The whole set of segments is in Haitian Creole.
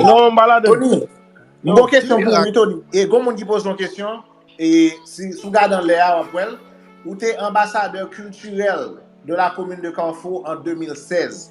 Non m pa ladan. Tony, m gon kesyon pou ou wi Tony. E gon moun ki poze yon kesyon, e si ou gade anlè a w ap wè l. Ou te anbasadè kiltirèl de la komin de Carrefour an 2016.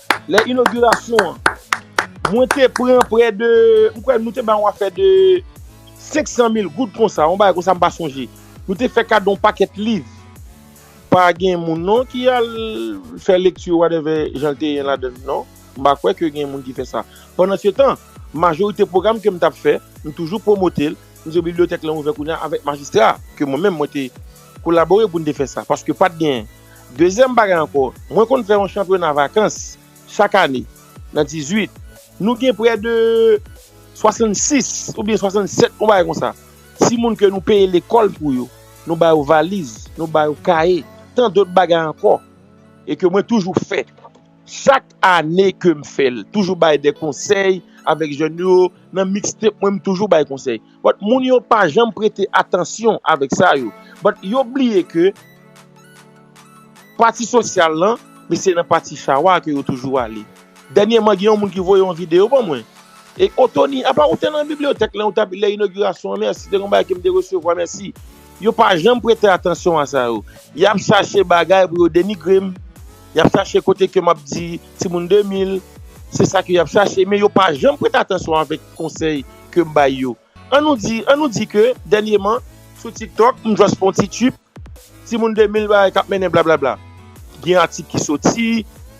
Lè inogirasyon an, mwen te pran prè de, m kwè nou te bay yon afè de 500 mil goud konsa, yon bagay konsa m pa sonje. Nou te fè kado yon pakèt liv. Pa gen moun non ki al fè lekti whatever jan l te ye ladan l non. M pa kwè ke gen moun ki fè sa. Pandansetan, majorite pwogram ke m t ap fè, m toujou pwomote l, m di bibliyotèk lan ouvè kounye a avèk majistra a, ke mwen menm mwen te kolabore pou n te fè sa, paske pa t gen. Dezyèm bagay ankò, mwen konn fè yon chanpyona vakans chak ane nan 18. Nou gen prè de 66 oubyen 67, yon bagay konsa, ti moun ke nou peye lekòl pou yo. Nou ba yo valiz, nou ba yo kaye, tan dòt bagay ankò. E ke mwen toujou fè. Chak ane ke m fè l. Toujou bay de konsèy avèk jèn yo. Nan mixtape mwen, m toujou bay konsèy. But moun yo pa janm prete atansyon avek sa yo. But yo bliye ke pati sosyal lan men se nan pati chawa ke yo toujou ale. Dènyèman gen yon moun ki voye yon video ban mwen. E o Tony apa ou te nan bibliyotèk lè ou tap lè inogirasyon an mèsi te gen yon bagay ke m te resevwa mèsi. Yo pa janm prete atansyon a sa yo. Yap chache bagay pou yo denigre m. Yap chache kote ke map di timoun 2000 se sa ke yap chache men yo pa janm prete atansyon avek konsèy ke m bay yo an nou di an nou di ke dènyeman sou tiktok m just fè yon ti trip timoun 2000 bagay kap mennen blablabla gen atik ki soti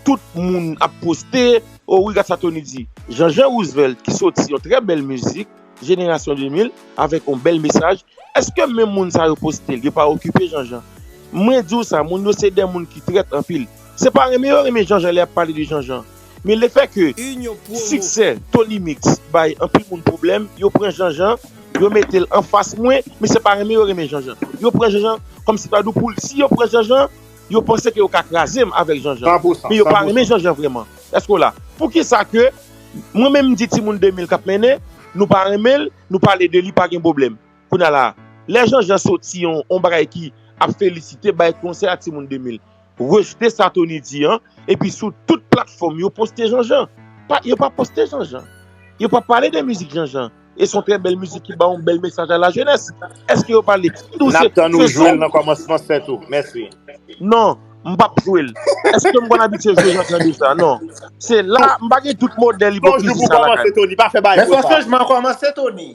tout moun ap poste o wi gad sa Tony di Jean-Jean Roosevelt ki soti yon trè bèl mizik jenerasyon 2000 avèk yon bèl mesaj eske menm moun sa yo poste l yo pa okipe Jean-Jean mwen di w sa moun yo se de moun ki trèt anpil se pa renmen yo renmen Jean-Jean lè yap pale de Jean-Jean Men le fè ke siksè Tony Mix bay anpil moun pwoblèm, yo pran Jean Jean, yo mete l anfas mwen, men se pa renmen yo renmen Jean Jean. Yo pran Jean Jean kòm si pa dou poul. Si yo pran Jean Jean, yo panse ke yo ka kraze m avèk Jean Jean. Men yo pa renmen Jean Jean vrèman. Èske w la? Poukisa ke mwen menm m di timoun 2000 k ap mennen, nou pa renmen l, nou pale de li pa gen pwoblèm. Kounye a la a, lè Jean Jean soti yon bagay ki ap felisite, bay konsèy a timoun 2000. Rejte sa Tony di an epi sou tout platfòm yo poste Janjan. Yo pa poste Janjan. Yo pa pale de mizik Janjan. E son trè bèl mizik ki ba yon bèl mesaj a la jenès. Eske yo pale N ap tann ou jwe l nan kòmansman 7 ou. Mèsi. Non. M p ap jwe l. Eske m konn abitye jwe Janjan deja? Non. Se la, m pa gen tout modèl ipokrizi sa lakay mwen. Son jou pou kòmanse Tony. Pa fè bagay konsa. Men son chanjman kòmanse Tony.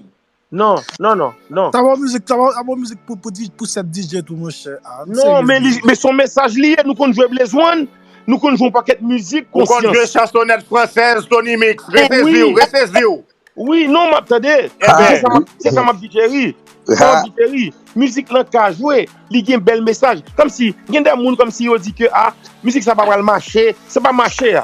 Non, non, non, non. Sa pa mizik, sa pa bon mizik pou pou di pou 7 DJ tou monchè. Ah, nou Non, men li, seriez. men son mesaj li ye, nou konn jwe Blaze One, nou konn jwe yon pakèt mizik Ou konn jwe konsyans. chansonèt fransèz Tony Mix, Ou konn reseziw, Oui, reseziw. oui, non m'ap tande, Hein, se Enben. sa m'ap, se sa m'ap di Jerry, se sa m'ap di Jerry, mizik lan ka jwe, li gen bèl mesaj, kòmsi gen de moun kòmsi yo di ke ah, mizik sa pa pral mache, se pa mache a.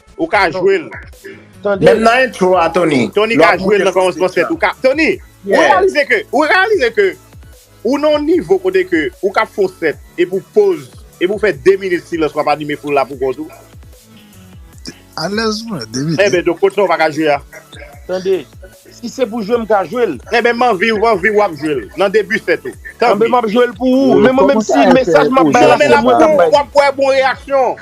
Ou ka jwel. Menm nan intro a Tony. Tony ka jwel nan kòmansman set ou ka. Tony, ou reyalize ke, ou reyalize ke ou nan yon nivo kote ke ou ka fon set epi ou poz, epi ou fè 2 minit silans wap anime foul la pou kont ou. Alèz mwen, 2 minit. Enben donk kot sa ou pa ka jwe a? Tande, si se pou jwe m ka jwel. Enben m anvi ou anvi wap jwel nan debi set ou. Tanpri. Anben map jwel pou ou. Men mwen menm si mesaj map bay la se mwen kap bay li. Wap wè bon reyaksyon.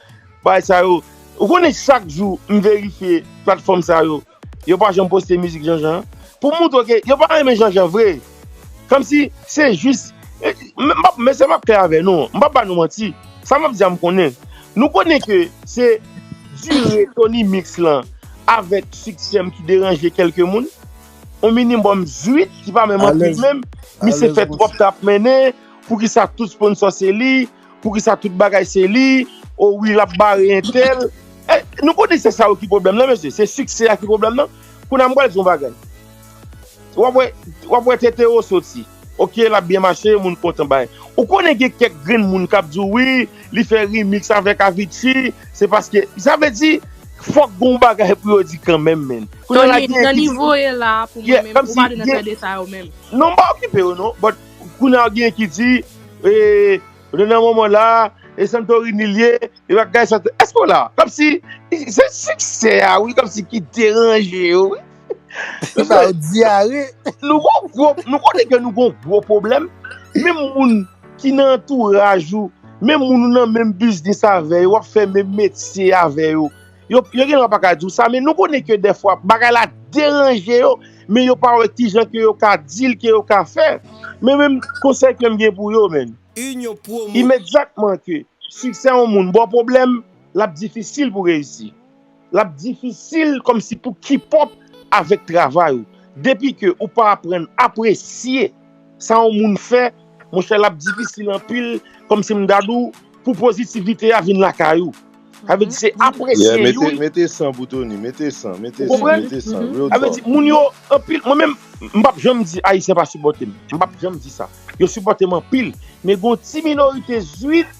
Bagay sa yo Ou konnen chak jou m verifye platfòm sa yo Yo pa janm poste mizik Janjan an Pou m moutre w ke yo pa renmen Janjan vre Kòmsi se jis M pap Mesye m ap klè avè nou M pap ba nou manti Sa m ap di a m konnen Nou konnen ke se dire Tony Mix lan avèk siksè m ki deranje kèlke moun On minimòm 8 ki pa menm anpil menm Misye fè twòp tap mennen Poukisa tout sponsò se li Poukisa tout bagay se li, o wi lap bare entèl. Nou konnen se sa yo ki pwoblèm nan mesye, se siksè a ki pwoblèm nan. Kounye a m pral di yon bagay. Wap wè tete yo soti, ok lap byen mache, moun kontan bay. Ou konnen gen kèk grenn moun kap di w wi, li fè rimiks avèk Avicii, se paske, sa vle di fòk gen yon bagay pou yo di kanmenm menn. Tony, nan nivo w ye la pou mwen menm, ou pa dwe nan tande sa yo menm. Non m pa okipe yo non, but. Kounya ou genyen ki di nou nan moman la e Santorini liye e bagay sa tout. Eske w la? Komsi se siksè a wi komsi ki deranje yo wi. Li ba ou dyare. Nou gon gwo, nou konnen ke nou gon gwo pwoblèm, menm moun ki nan antouraj ou, menm moun ou nan menm biznis avè yo, wap fè menm metye avè yo. Yo genlwa pa ka di w sa, men nou konnen ke dèfwa bagay la deranje yo, men yo pa wè ki jan ke yo ka di l, ke yo ka fè. Men menm konsèy ke m gen pou yo men, imediatman ke siksè yon moun ba w pwoblèm, l ap difisil pou reyisi. L ap difisil kòm si pou kipòp avèk travay ou. Depi ke ou pa aprann apresye. sa yon moun fè monchè lap difisil anpil kòmsi m gad ou pou pozitivite a vin lakay ou sa vle di se apresye youn Yeah mete san pou Tony mete san mete san mete san real talk Sa vle di moun yo anpil mwen menm m pap janm di ayisyen pa sipòte m m pap janm di sa yo sipòte m anpil men gon ti minorite zwit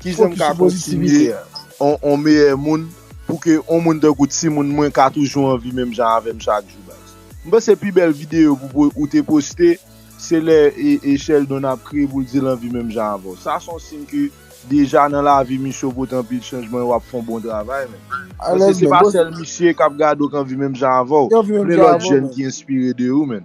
Kijan m ka kontinye yon meyè moun pou ke yon moun tankou timoun mwen ka toujou anvi menm jan avèm chak jou baz. M panse pi bèl videyo ou te poste se lè Sheldon ap kriye pou l di l anvi menm jan avè w. Sa se yon siy ke deja nan lavi misye ou pote anpil chanjman e w ap fè yon bon travay menm. Paske se pa sèl misye k ap gade w k anvi menm jan avè w. Gen lòt jèn ki enspire de ou menn.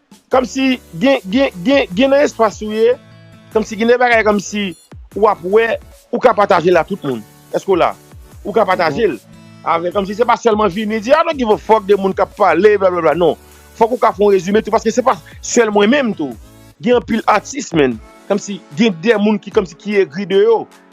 Kòmsi gen gen gen gen nan espas ou ye, kòmsi gen de bagay kòmsi ou ap wè ou ka patajel a tout moun. Eske w la? Ou ka patajel avèk kòmsi se pa sèlman vini di I don't give a fuck de moun kap pale blablabla non. Fòk ou ka fè yon rezime tou paske se pa sèl mwen menm tou. Gen anpil atis man. Kòmsi gen de moun ki kòmsi ki egri de yo.